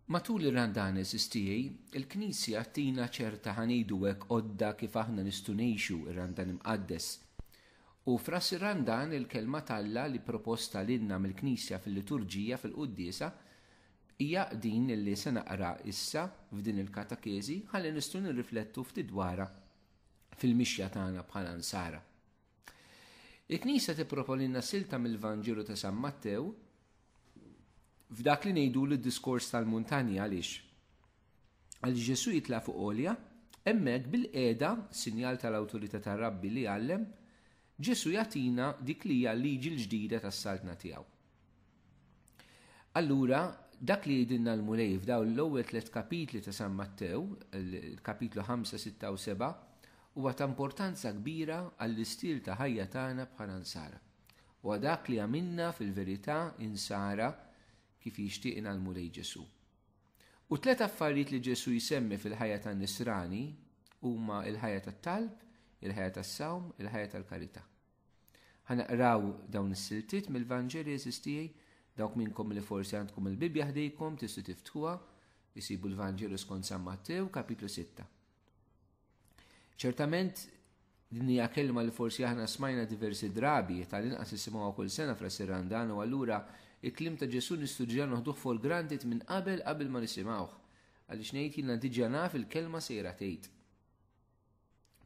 Matul ir-Randanes istijaj, il-Knisja tina ċerta ħanidu hekk għodda kif aħna nistgħu ngħixu r-Randan imqaddes. U fras ir-Randan il-kelma t'Alla li proposta lilna mill-Knisja fil-liturġija fil-quddiesa hija din li se naqra issa f'din il-katakezi ħalli nistgħu nirriflettu ftit dwarha fil-mixja tagħna bħala nsara. Il-Knisja tipproponilna silta mill-Vanġelu ta' San Mattew f'dak li ngħidu l-diskors tal-muntanja għaliex. Għaliex Ġesu jitla' fuq olja, hemmhekk bil-qiegħda, sinjal tal-awtorità tar-Rabbi li għallem, Ġesu jagħtina dik li hija l-liġi l-ġdida tas-saltna tiegħu. Allura, dak li jidinna l-Mulej f'daw l-ewwel tliet kapitli ta' San Mattew, il-kapitlu 5, 6 u 7, huwa ta' importanza kbira għall-istil ta' ħajja tagħna bħala nsara. U dak li għamilna fil-verità insara kif jixtieqna l-Mulej Ġesu. U tliet affarijiet li Ġesu jsemmi fil-ħajja ta' nisrani huma il-ħajja tat-talb, il-ħajja tas-sawm, il-ħajja tal-karità. Ħanaqraw dawn is-siltiet mill-Vanġeli eżis tiegħi, dawk minnkom li forsi għandkom il-Bibbja ħdejkom tistgħu tiftħuha, isibu l-Vanġelu skont San Mattew, kapitlu 6. Ċertament din hija kelma li forsi aħna smajna diversi drabi tal-inqas isimgħuha kull sena fl-Sirrandan u allura il-klim ta' Ġesu nistudja noħduh for granted minn qabel qabel ma nisimgħuh. Għaliex ngħid jiena diġà naf il-kelma sejra tgħid.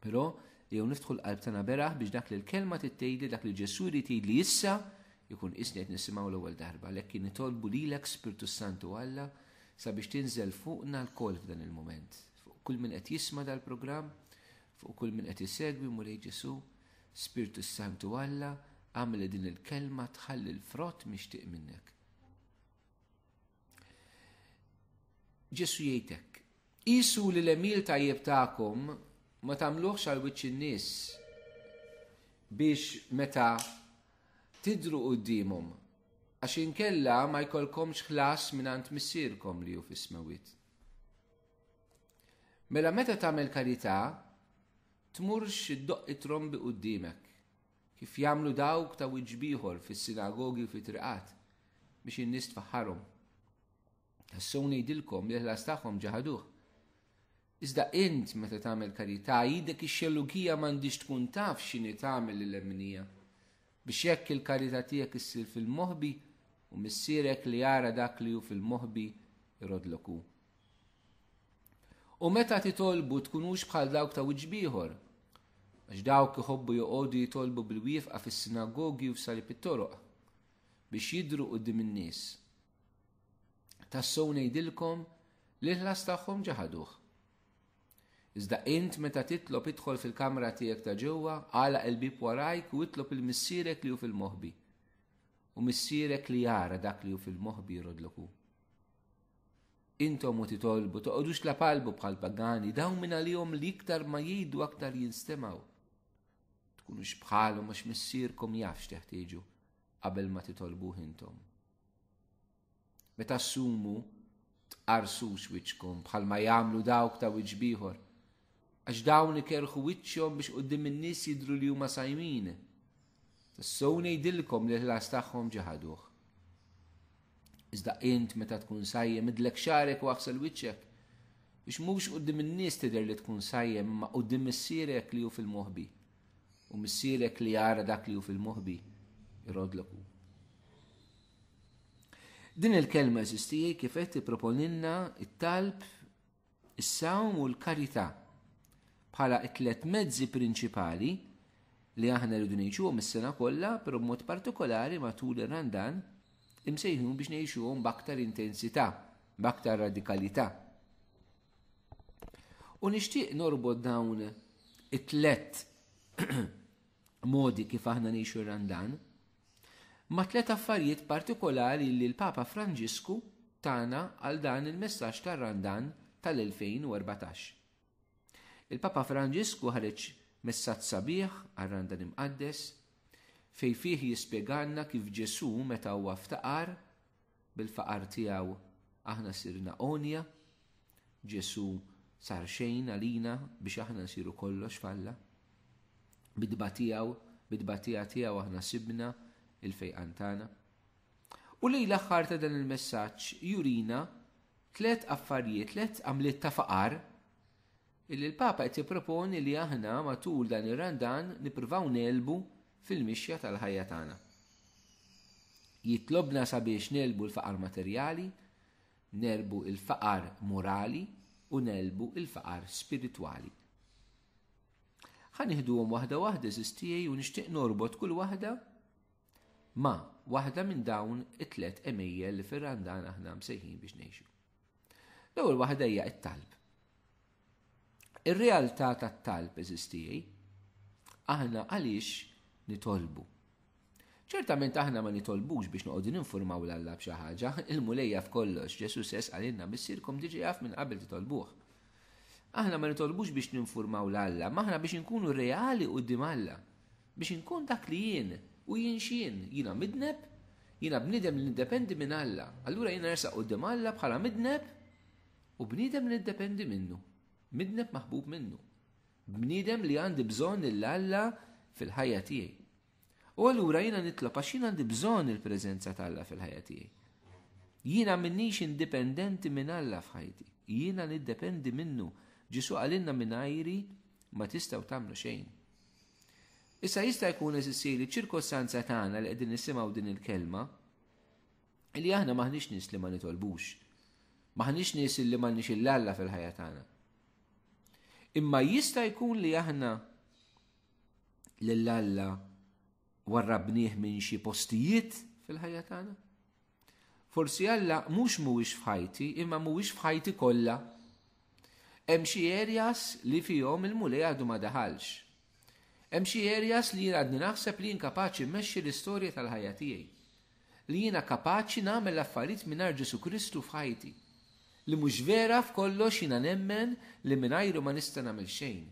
Però jew niftħu l-qalb tagħna beraħ biex dak li l-kelma tittejli dak li Ġesù jrid jgħidli issa jkun isni qed nisimgħu l-ewwel darba għalhekk kien nitolbu lilek Spirtu Santu Alla sabiex tinżel fuqna l-kol f'dan il-moment. Fuq kull min qed jisma dal-programm, fuq kull min qed isegwi Mulej Ġesu, Spirtu Santu Alla, għamel din il-kelma tħalli l-frott mixtieq minnek. Ġesu jgħidek, isu li l-emil tajjeb tagħkom ma tagħmluhx għal wiċċ in-nies biex meta tidru qudiemhom għax inkella ma jkollkomx ħlas mingħand missierkom li hu fis-smewit. Mela meta tagħmel karità, tmurx iddoqq it-trombi qudiemek kif jagħmlu dawk ta' wiċċ b'ieħor fis-sinagogi u fit-triqat biex in-nies tfaħħarhom. Tassew ngħidilkom li l-ħlas tagħhom ġaħaduh. Iżda int meta tagħmel karità jidek ix-xellugija m'għandix tkun taf x'inhi tagħmel lil emnija biex hekk il-karità tiegħek issir fil-moħbi u missierek li jara dak li hu fil-moħbi jrodlok hu. U meta titolbu tkunux bħal dawk ta' wiġbieħor, Għax dawk iħobbu joqogħdu jitolbu bil-wieqfa fis-sinagogi u f'salib it-toroq biex jidhru quddiem in-nies. Tassew ngħidilkom li l-ħlas tagħhom ġaħaduh. Iżda int meta titlob idħol fil-kamra tiegħek ta' ġewwa, għala il-bib warajk u itlob il-missierek li hu fil-moħbi. U missierek li jara dak li hu fil-moħbi jrodloku. Intom u titolbu, toqgħodux tlapalbu bħal pagani, dawn minn għalihom li iktar ma jgħidu aktar jinstemgħu. Tkunux bħalhom għax missierkom jafx teħtieġu qabel ma titolbuh intom. Meta ssumu tqarsux wiċċkom bħal ma jagħmlu dawk ta' wiċċ bieħor, Għax dawn ikerħu wiċċhom biex quddiem in-nies jidhru li huma sajmin. Tassew ngħidilkom li l-ħlas tagħhom ġie ħaduh. Iżda int meta tkun sajjem idlek xarek u aħsel wiċċek biex mhux quddiem in-nies tidher li tkun sajjem imma quddiem missierek li hu fil-moħbi. U missierek li jara dak li hu fil-moħbi irodlok hu. Din il-kelma eżistijie kif qed tipproponilna it-talb is-sawm u l-karità bħala t-tliet mezzi prinċipali li aħna rridu ngħixuhom is-sena kollha, però b'mod partikolari matul ir-Randan imsejħun biex ngħixuhom b'aktar intensità, b'aktar radikalità. U nixtieq norbod dawn it-tlet modi kif aħna ngħixu r-Randan Ma' tliet affarijiet partikolari li l-Papa Franġisku tana għal dan il-messaġġ tar-Randan tal-2014. Il-Papa Franġisku ħareġ messaġġ sabiħ għar-Randan Imqaddes, fejn fih jispjegalna kif Ġesù meta huwa ftaqar Bil-faqar tiegħu aħna sirna għonja, Ġesù sar xejn għalina biex aħna nsiru kollox f'Alla. Bidba tiegħu, bidbatija tiegħu aħna sibna il-fejqan tagħna. U lej l-aħħar ta' dan il-messaġġ jurina tliet affarijiet, tliet għamliet ta' faqar Illi l-Papa qed jipproponi li aħna matul dan ir-Randan nippruvaw ngħelbu fil-mixja tal-ħajja tagħna. Jitlobna sabiex ngħelbu l-faqar materjali, nerbu il-faqar morali u nelbu il-faqar spiritwali. Ħa nieħduhom waħda waħda żistijaj u nixtieq norbot kull waħda Ma' waħda minn dawn it-tliet għemejjel li fir-Randan aħna msejħin biex ngħixu. L-ewwel waħda hija t-talb. Ir-realtà tat-talb eżistijej, aħna għaliex nitolbu. Ċertament aħna ma nitolbux biex noqogħdu ninformaw l-Alla b'xi ħaġa, il-mulejja f'kollox, Ġesu sess għalinna missirkom diġi jaf minn qabel titolbuh. Aħna ma nitolbux biex ninformaw l-Alla, maħna biex nkunu reali u dim Alla. Biex inkun dak li jien, u jien x'jien? Jiena midneb? Jiena bniedem li niddependi minn Alla. Allura jiena nersaq quddiem Alla bħala midneb u bniedem li niddependi minnu. Midneb maħbub minnu. Bniedem li għandi bżonn lil Alla fil-ħajja tiegħi. U allura jiena nitlob għax jien għandi bżonn il-preżenza ta' Alla fil-ħajja tiegħi. Jiena minnix indipendenti minn Alla f'ħajti. Jiena niddependi minnu. Ġisu għalinna minn ajri ma tistaw tamlu xejn. Issa jista' jkun eżissi li ċirkostanza tagħna li qegħdin nisimgħu din il-kelma li aħna maħniex nies li ma nitolbux. Maħniex nies li m'għandniex il-Alla fil-ħajja tagħna. Imma jista' jkun li aħna lill-Alla warrabnieh minn xi postijiet fil-ħajja tagħna? Forsi Alla mhux mhuwiex f'ħajti, imma mhuwiex f'ħajti kollha. Hemm xi areas li fihom il-Mulej għadu ma daħalx. Hemm xi areas li jien għadni naħseb li jien kapaċi mmexxi l-istorja tal-ħajja tiegħi. Li jiena kapaċi nagħmel l-affarijiet mingħajr Ġesù Kristu f'ħajti. Li mhux vera f'kollox jiena nemmen li mingħajru ma nista' nagħmel xejn.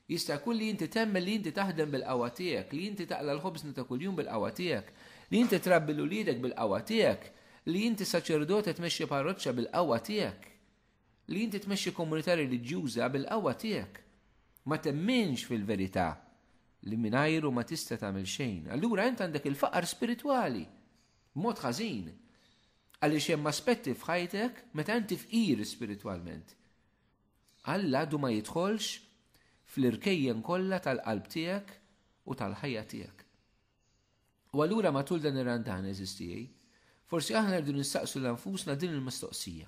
Jista' jkun li inti temmen li inti taħdem bil-qawwa tiegħek, li inti taqla' l-ħobżna ta' kuljum bil-qawwa tiegħek, li inti trabbi 'l uliedek bil-qawwa tiegħek, li inti saċerdot e tmexxi parroċċa bil-qawwa tiegħek, li inti tmexxi komunità reliġjuża bil-qawwa tiegħek. Ma temminx fil-verità li mingħajru ma tista' tagħmel xejn. Allura int għandek il-faqar spiritwali, mod ħażin. Għaliex hemm aspetti f'ħajtek meta inti fqir spiritwalment. Alla għadu ma jidħolx fl-irkejjen kollha tal-qalb tiegħek u tal-ħajja tiegħek. U allura matul dan ir-Randan eżistijaj, forsi aħna rridu nistaqsu l-anfusna din il-mistoqsija.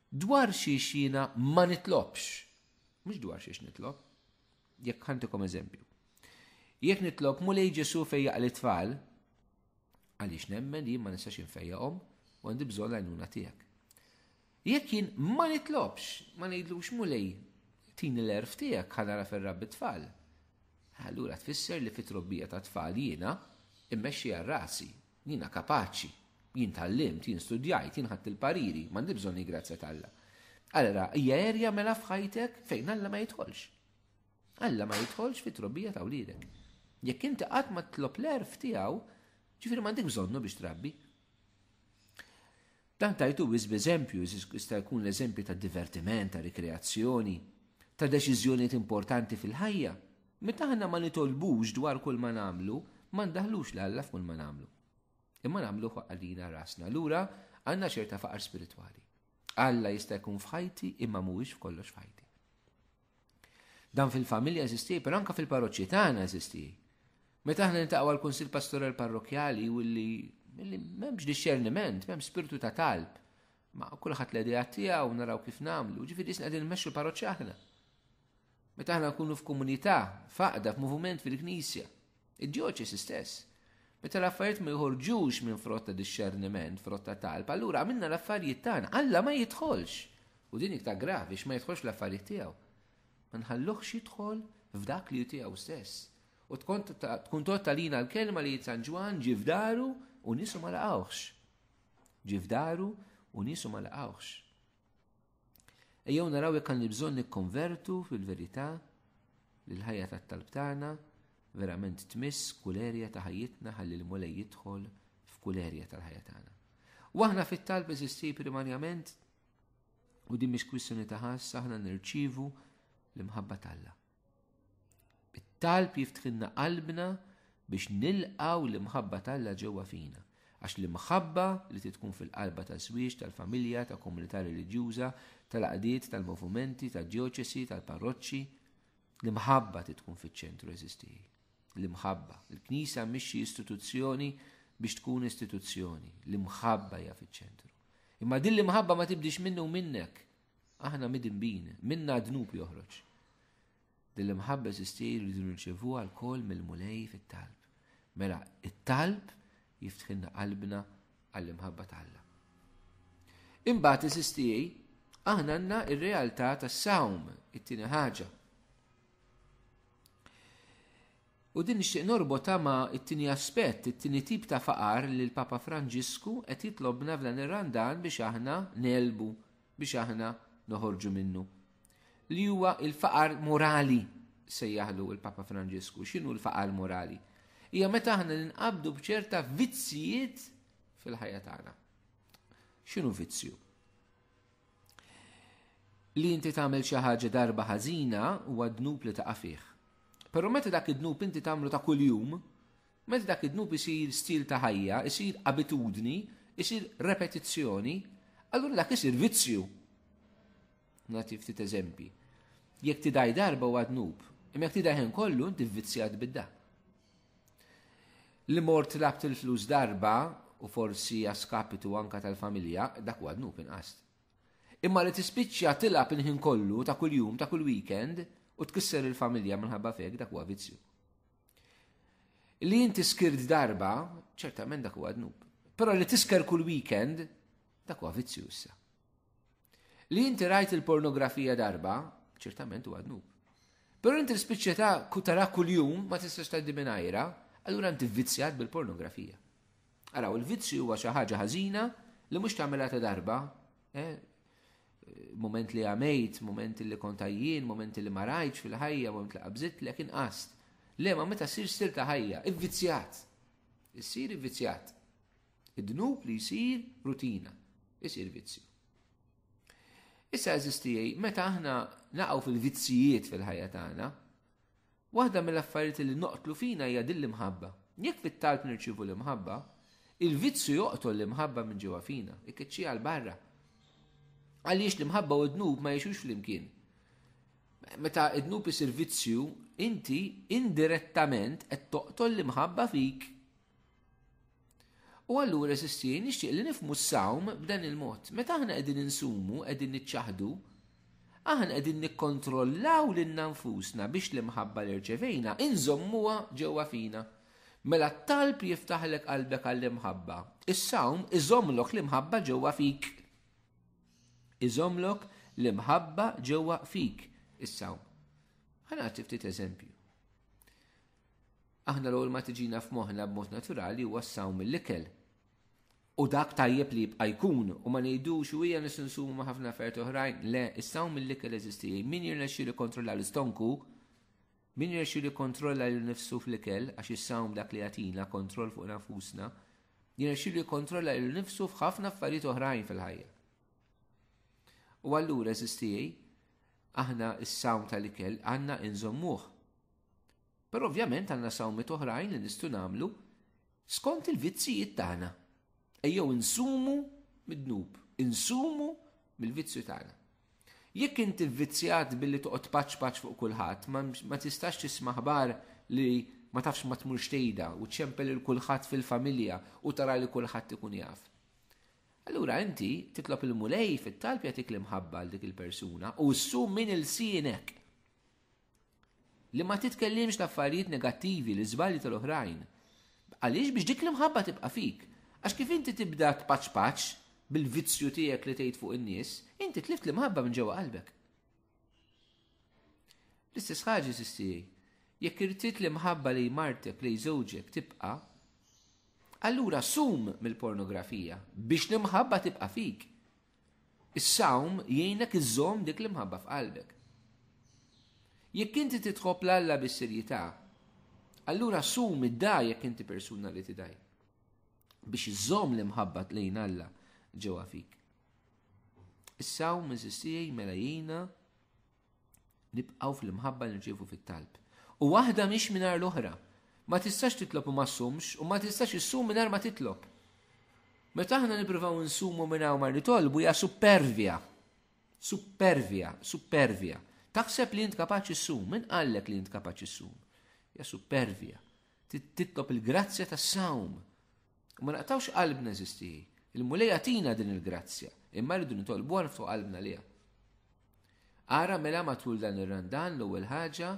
Dwar xiex jiena ma nitlobx, mhux dwar xiex nitlob, jekk ħantikom eżempju. Jekk nitlob mulej Ġesu fejja li tfal, għaliex nemmen li ma nistax infejjaqhom u għandi bżonn għajnuna tiegħek. Jekk jien ma nitlobx, ma ngħidlux Mulej, tini l-għerf tiegħek ħa nagħraf ir-rabbi t-tfal, allura tfisser li fit-trobbija tat-tfal jiena mmexxi għal rasi, jiena kapaċi, jien tgħallimt, jien studjajt, jien ħadt il-pariri, m'għandi bżonn il-grazzja t'Alla. Allura hija erja mela f'ħajtek fejn Alla ma jidħolx. Alla ma jidħolx fit-trobbija ta' wliedek. Jekk inti qatt ma tlob l-erf tiegħu, ġifieri m'għandek bżonnu biex trabbi. Dan tajtu biss b'eżempju, jista' jkun l-eżempju ta' divertiment, ta' rikreazzjoni, ta' deċiżjonijiet importanti fil-ħajja. Meta aħna ma nitolbux dwar kull ma nagħmlu, ma ndaħħlux lil Alla f'kull ma nagħmlu. Imma nagħmluh għalina rasna. Lura għandna ċerta faqar spiritwali. Alla jista' jkun f'ħajti imma mhuwiex f'kollox f'ħajti. Dan fil-familja eżisti, per anka fil-parroċċi tagħna eżisti. Meta aħna nintaqgħu għal kunsil pastoral parrokjali u li m'hemmx disċerniment, m'hemmx spirtu ta' talb. Ma kulħadd l-idea tiegħu naraw kif nagħmlu, ġifieri isna qegħdin nmexxu l-parroċċi aħna. Meta aħna nkunu f'komunità, faqda, f'moviment fil-knisja, Id-djoċesi stess. Meta l-affarijiet ma joħorġux minn frott ta' dixxerniment, frott ta' talb, allura għamilna l-affarijiet tagħna. Alla ma jidħolx. U din iktar gravi x'ma jidħolx l-affarijiet tiegħu. Ma nħalluhx jidħol f'dak li tiegħu stess. U tkun tkun totta lina l-kelma li San Ġwan ġi f'daru u nisu ma laqgħux. Ġi f'daru u nisu ma laqgħux. Ejjew naraw jekk għandi bżonn nikkonvertu fil-verità li l-ħajja tat-talb tagħna verament tmiss kull erja ta' ħajjitna ħalli l-mulej jidħol f'kull erja tal-ħajja tagħna. U aħna fit-talb eżisti primarjament u din mhix kwistjoni ta' ħass aħna nirċivu l-imħabba t'Alla. It-talb jiftħilna qalbna biex nilqaw l-imħabba t'Alla ġewwa fina. Għax l-imħabba li titkun fil-qalba ta' żwieġ, tal-familja, ta' komunità reliġjuża, tal-għaqdiet, tal-movimenti, tad-djoċesi, tal-parroċċi, l-imħabba titkun fiċ-ċentru eżistiji. L-imħabba. Il-Knisja mhix xi istituzzjoni biex tkun istituzzjoni. L-imħabba hija fiċ-ċentru. Imma din l-imħabba ma tibdix minnu minnek. Aħna midinbin, minna dnub joħroġ. Din l-imħabba sistir li dun nċevu għal-kol mill-mulej fit-talb. Mela, it-talb jiftħinna qalbna għall-imħabba tal-la. Imbagħad isistijaj, aħna għandna il realtà tas-sawm, it-tieni ħaġa. U din nixtieq norbotha ma' it-tieni aspett, it-tieni tip ta' faqar li l-Papa Franġisku qed jitlobna f'dan ir-Randan biex aħna ngħelbu, biex aħna noħorġu minnu. Li huwa l-faqar morali, sejjaħlu l-Papa Franġisku. X'inhu l-faqar morali? Hija meta aħna ninqabdu b'ċerta vizzjijiet fil-ħajja tagħna. X'inhu vizzju? Li inti tagħmel xi ħaġa darba ħażina huwa dnub li taqa' fih. Però meta dak id-dnub inti tagħmlu ta' kuljum, meta dak id-dnub isir stil ta' ħajja, isir abitudni, isir repetizzjoni, allura dak isir vizzju. Nagħti ftit eżempji. Jekk tidaj darba huwa dnub, imma jekk tidaj kollu inti vvizzjat bid-dak. Li mort tlabt il-flus darba u forsi għaskapitu anka tal-familja, dak huwa dnub inqas. Imma li tispiċċa tilab il-ħin kollu ta' kuljum ta' kull weekend u tkisser il-familja minħabba fek dak huwa vizzju. Li inti skirt darba, ċertament dak huwa dnub. Però li tisker kull weekend, dak huwa vizzju issa. Li inti rajt il-pornografija darba, ċertament huwa dnub. Però inti l-spiċċa ta' kutara kuljum ma tistax tgħaddi minn ajra, allura inti vvizzjat bil-pornografija. Araw, il-vizzju huwa xi ħaġa ħażina li mhux tagħmilha ta' darba, eh, moment li għamejt, moment li kontajjien, moment li marajċ fil-ħajja, moment li qabżit li kien qast. Le, ma meta sir stil ta' ħajja, ivvizzjat. Issir ivvizzjat. Id-dnub li jsir rutina, isir vizzju. Issa eżistijaj, meta aħna naqgħu fil-vizzijiet fil-ħajja tagħna, waħda mill-affarijiet li noqtlu fina hija din l-imħabba. Jekk fit-talb nirċivu l-imħabba, il-vizzju joqtol l-imħabba minn ġewwa fina, ikkeċċi għal barra. Għaliex l-imħabba u d-dnub ma jiexux flimkien. Meta id-dnub isir vizzju, inti indirettament qed toqtol l-imħabba fik U allura sisti nixtieq li nifmu s-sawm b'dan il-mod. Meta aħna qegħdin insumu, qegħdin niċċaħdu, aħna qegħdin nikkontrollaw lil nfusna biex l-imħabba li rċevejna inżommuha ġewwa fina. Mela t-talb jiftaħlek qalbek għall-imħabba. Is-sawm iżomlok l-imħabba ġewwa fik. Iżomlok l-imħabba ġewwa fik is-sawm. Ħana ftit eżempju. Aħna l-ewwel ma tiġina f'moħħna b'mod naturali huwa s-sawm mill-ikel. U dak tajjeb li jibqa' jkun u ma ngħidux u hija nisinsumu ma' ħafna affarijiet oħrajn, le is-sawm mill-ikel eżisti. Min jirnexxi li kontrolla l-istonku, min jirnexxi li kontrolla lil nifsu fl-ikel għax is-sawm dak li jagħtina kontroll fuq nafusna, jirnexxi li kontrolla lil nifsu f'ħafna affarijiet oħrajn fil-ħajja. U allura eżisti aħna s-sawm tal-ikel għandna inżommuh Però ovvjament għandna sawmiet oħrajn li nistgħu nagħmlu skont il-vizzijiet tagħna. Ejjew insumu mid-dnub, insumu mill-vizzju tagħna. Jekk inti vvizzjat billi toqgħod paċ paċ fuq kulħadd, ma tistax tisma' ħbar li ma tafx ma tmurx tgħidha u ċempel il kulħadd fil-familja u tara li kulħadd ikun jaf. Allura inti titlob il-mulej fit-talb jagħtik l-imħabba għal dik il-persuna u ssum min il-sienek. Li ma titkellimx ta' affarijiet negattivi, l-iżbalji tal-oħrajn. Għaliex biex dik l-imħabba tibqa' fik. Għax kif inti tibda tpaċpaċ bil-vizzju tiegħek li tgħid fuq in-nies, inti tlift l-imħabba minn ġewwa qalbek. L-istess ħaġa sistiri. Jekk irtit li mħabba li martek li żewġek tibqa, allura sum mill-pornografija biex li mħabba tibqa fik. Is-sawm jgħinek iżżomm dik l-imħabba f'qalbek. Jekk inti titħobb l Alla bis-serjetà, allura sum idda jekk inti persuna li tidaj biex iżżomm l-imħabba lejn Alla ġewwa fik. Is-sawm iżistijaj mela jgħina Nibqgħu fl-imħabba li nċievu fit-talb. U waħda mhix mingħajr l-oħra. Ma tistax titlob u ma ssumx, u ma tistax issum mingħajr ma titlob. Meta aħna nippruvaw insumu mingħajr ma nitolbu hija supervja. Supervja, supervja. Taħseb li int kapaċi ssum, min qallek li int kapaċi ssum? Ja supervja. Titlob il-grazzja tas-sawm. U ma naqtawx qalbna eżisti. Il-Mulej għatina din il-grazzja, imma rridu nitolbu għal niftu qalbna liha. Ara mela matul dan ir-randan l-ewwel ħaġa,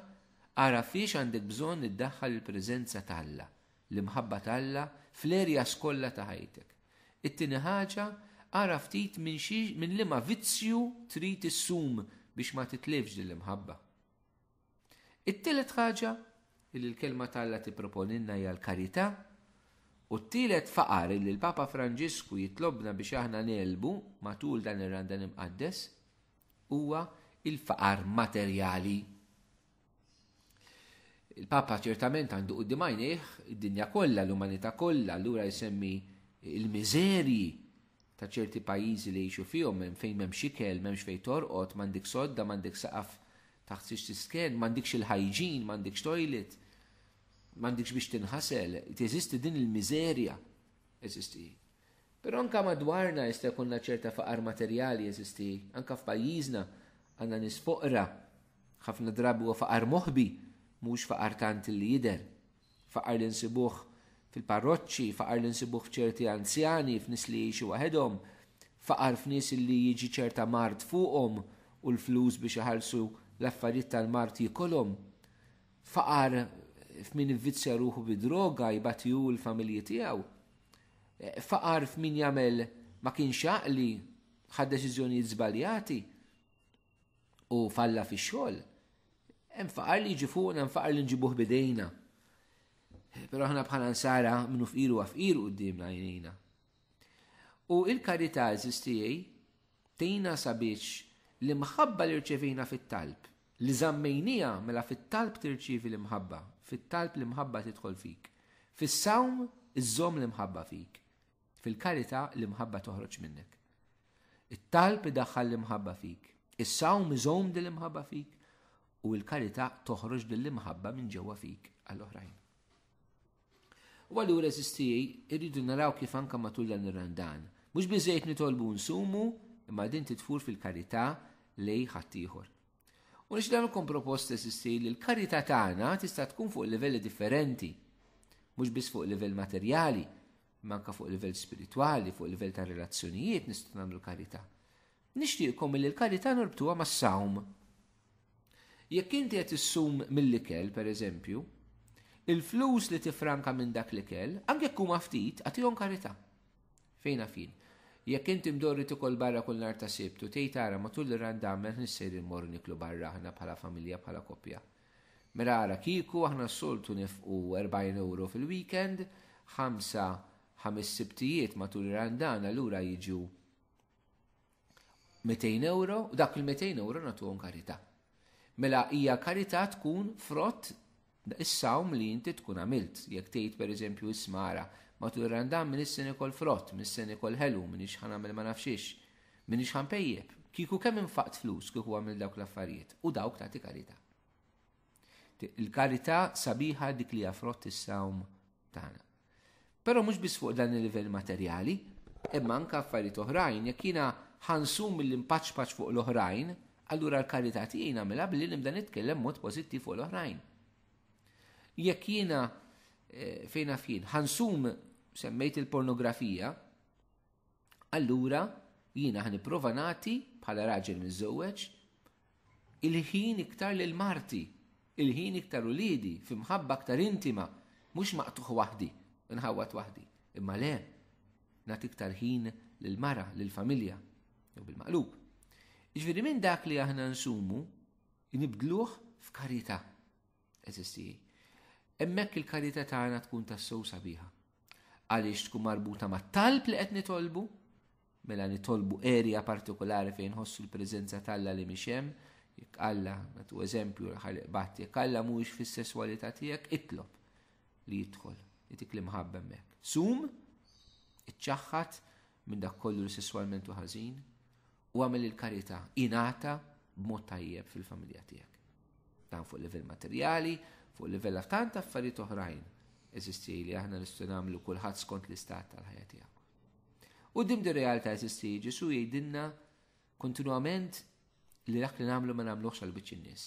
ara fiex għandek bżonn iddaħħal il-preżenza t'Alla, l-imħabba t'Alla fl-erjas kollha ta' ħajtek. It-tieni ħaġa, ara ftit minn liema vizzju trid issum biex ma titlifx din l-imħabba. It-tielet ħaġa li l-Kelma ta' Alla tipproponilna hija l-karità, u t-tielet faqar li l-Papa Franġisku jitlobna biex aħna ngħelbu matul dan ir-Randan Imqaddes huwa l-faqar materjali. Il-Papa ċertament għandu quddiem għajnejh id-dinja kollha, l-umanità kollha, allura jsemmi il-miżerji ta' ċerti pajjiżi li jgħixu fihom hemm fejn m'hemmx ikel, m'hemmx fejn torqod, m'għandek sodda, m'għandek saqaf Taħt xiex tisken, m'għandikx il-hygiene, m'għandikx toilet, m'għandikx biex tinħasel, teżisti din il-miżerja. Eżisti. Però anka madwarna jista' jkollna ċerta faqar materjali eżisti, anka f'pajjiżna għandna nisfoqra, ħafna drabi huwa faqar moħbi, mhux faqar tant li jidher. Faqar li nsibuh fil-parroċċi, faqar li nsibuh f'ċerti anzjani, f'nies li jgħixu waħedhom, faqar f'nies li jiġi ċerta mard fuqhom u l-flus biex iħallsu l-affarijiet tal-mard jikolhom, faqar f'min ivvizzja ruħu bid-droga jbati hu l-familji tiegħu, faqar f'min jagħmel ma kienx għaqli ħad deċiżjonijiet żbaljati, u falla fi xogħol, hemm faqar li jiġi fuqna, hemm faqar li nġibuh bidejna. Però aħna bħala nsara minnu fqiru għafqir u d-dimna jnejna. U il-karità eżistijaj tejna sabiex l-imħabba li rċevejna fit-talb, li zammejnija mela fit-talb tirċivi l-imħabba, fit-talb l-imħabba tidħol fik. Fis-sawm iżżomm l-imħabba fik. Fil-karità l-imħabba toħroġ minnek. It-talb idaħħal l-imħabba fik. Is-sawm iżomm din l-imħabba fik u l-karità toħroġ din l-imħabba minn ġewwa fik għall-oħrajn. U għallura eżistijaj, irridu naraw kif anka matul dan ir-randan. Mhux biżejt nitolbu nsumu, imma din titfur fil-karità li ħaddieħor. U nix dan ikun propost eżisti li l-karità tagħna tista' tkun fuq livelli differenti, mhux biss fuq livell materjali, Manka fuq livell spiritwali, fuq livell ta' relazzjonijiet nistgħu nagħmlu karità. Nixtieqkom li l-karità norbtuha mas-sawm. Jekk inti qed issum mill-ikel, pereżempju, il-flus li tifranka minn dak l-ikel, anke jekk huma ftit, għatihom karità. Fejn fin. Jekk inti mdorri tikol barra kull nar ta' sibt u tgħid ara matul ir-randamen nissejr immorru niklu barra aħna bħala familja bħala koppja. Mela ara, kieku aħna s-soltu nefqu 40 ewro fil-weekend, ħamsa, ħames sibtijiet matul ir-Randan allura jiġu 200 ewro, u dak il-200 ewro nagħtuhom karità. Mela hija karità tkun frott is-sawm li inti tkun għamilt. Jekk tgħid pereżempju ismara, matul ir-Randan min isseni kol frott, min isseni kol ħelu, min ixħan għamil ma nafxiex. M'iniex ħanpejjep. Kieku kemm infaqt flus kieku għamilt dawk l-affarijiet u dawk tagħti karità. Il-karità sabiħa dik li frott is-sawm tagħna. Però mhux biss fuq dan il-livell materjali, imma anke affarijiet oħrajn, jekk jiena ħansum mill impaċpaċ fuq l-oħrajn, allura l-karità tiegħi nagħmilha billi nibda nitkellem mod pożittiv fuq l-oħrajn. Jekk jiena eh, fejn fien ħansum semmejt il-pornografija, Allura jiena ħa nipprova nagħti bħala raġel miżżewweġ il-ħin iktar lil marti, il-ħin iktar uliedi, fi mħabba aktar intima, mhux maqtuħ waħdi, nħawwat waħdi. Imma le, nagħti iktar ħin lil mara, lil familja, jew bil-maqlub. Ġifieri minn dak li aħna nsumu, nibdluh f'karità. Eżisti. Hemmhekk il-karità tagħna tkun tassew sabiħa. Għaliex tkun marbuta mat-talb li qed nitolbu, mela nitolbu erja partikolari fejn ħossu l-preżenza talla li mhix hemm, jekk Alla, natu eżempju l-ħaliq bat, jekk Alla mhuwiex fis-sesswalità tiegħek, itlob li jidħol, jitik li mħabba hemmhekk. Sum, iċċaħħat, minn dak kollu li sesswalment u ħażin u għamel il-karità ingħata b'mod tajjeb fil-familja tiegħek. Dan fuq livell materjali, fuq livell tant affarijiet oħrajn eżisti li aħna nistgħu nagħmlu kulħadd skont l-istat tal-ħajja tiegħu. U dim di realtà eżisti Ġesu jgħidilna kontinwament li dak li nagħmlu ma nagħmluhx għal biċċ in-nies.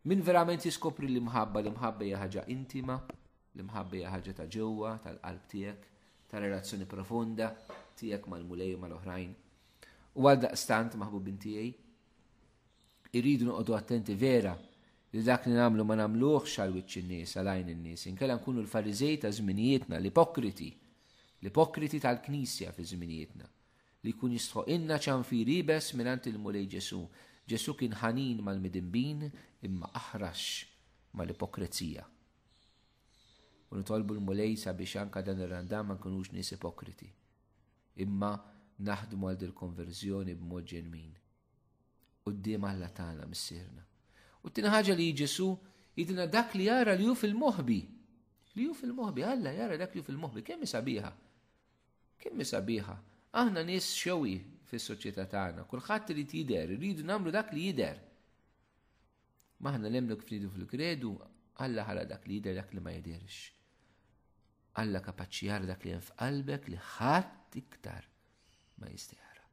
Min verament jiskopri l-imħabba, l-imħabba hija ħaġa intima, l-imħabba hija ħaġa ta' ġewwa, tal-qalb tiegħek, ta' relazzjoni profonda tiegħek mal-mulej u mal-oħrajn. U għal daqstant maħbubin tiegħi, irridu noqogħdu attenti vera li dak li nagħmlu ma nagħmluhx għal wiċċ in-nies, għal għajn in-nies, inkella nkunu l-fariżej ta' żminijietna, l-ipokriti, l-ipokriti tal-knisja fi żminijietna. Li jkun jistħoqilna ċanfir iebes mingħand il-Mulej Ġesù. Ġesù kien ħanin mal-midinbin imma aħrax mal-ipokrezija. U nitolbu l-Mulej sabiex anka dan ir-Randan ma nkunux nies ipokriti. Imma naħdmu għal dil-konverżjoni b'mod ġenwin. Qudiem Alla tagħna missierna. U t-tieni ħaġa li Ġesù jidina dak li jara li hu fil-moħbi. Li hu fil-moħbi, Alla jara dak li hu fil-moħbi, kemm sabiħa. Kemm sabiħa. Aħna nies xewi fis-soċjetà tagħna, kulħadd irid jidher, irridu nagħmlu dak li jidher. Maħna nemnu kif nidu fil-kredu, Alla ħala dak li jidher dak li ma jidherx. Alla kapaċi jara dak li hemm f'qalbek li ħadd iktar ma jista' jara.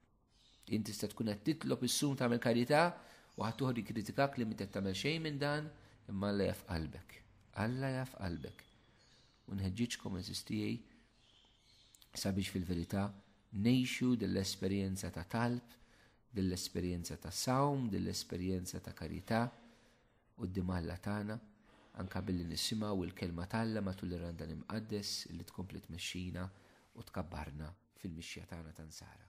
Inti tista' tkun qed titlob is-sum tagħmel karità u ħadd uħor jikkritikak li minn tagħmel xejn minn dan, imma Alla jaf qalbek. Alla jaf qalbek. U nħeġġiġkom eżis tiegħi sabiex fil-verità ngħixu dell-esperjenza ta' talb, dell-esperjenza ta' sawm, dell-esperjenza ta' karità quddiem Alla tagħna, anka billi nisimgħu il-kelma t'Alla matul ir-randan imqaddes li tkompli tmexxina u tkabbarna fil-mixja tagħna ta' nsara.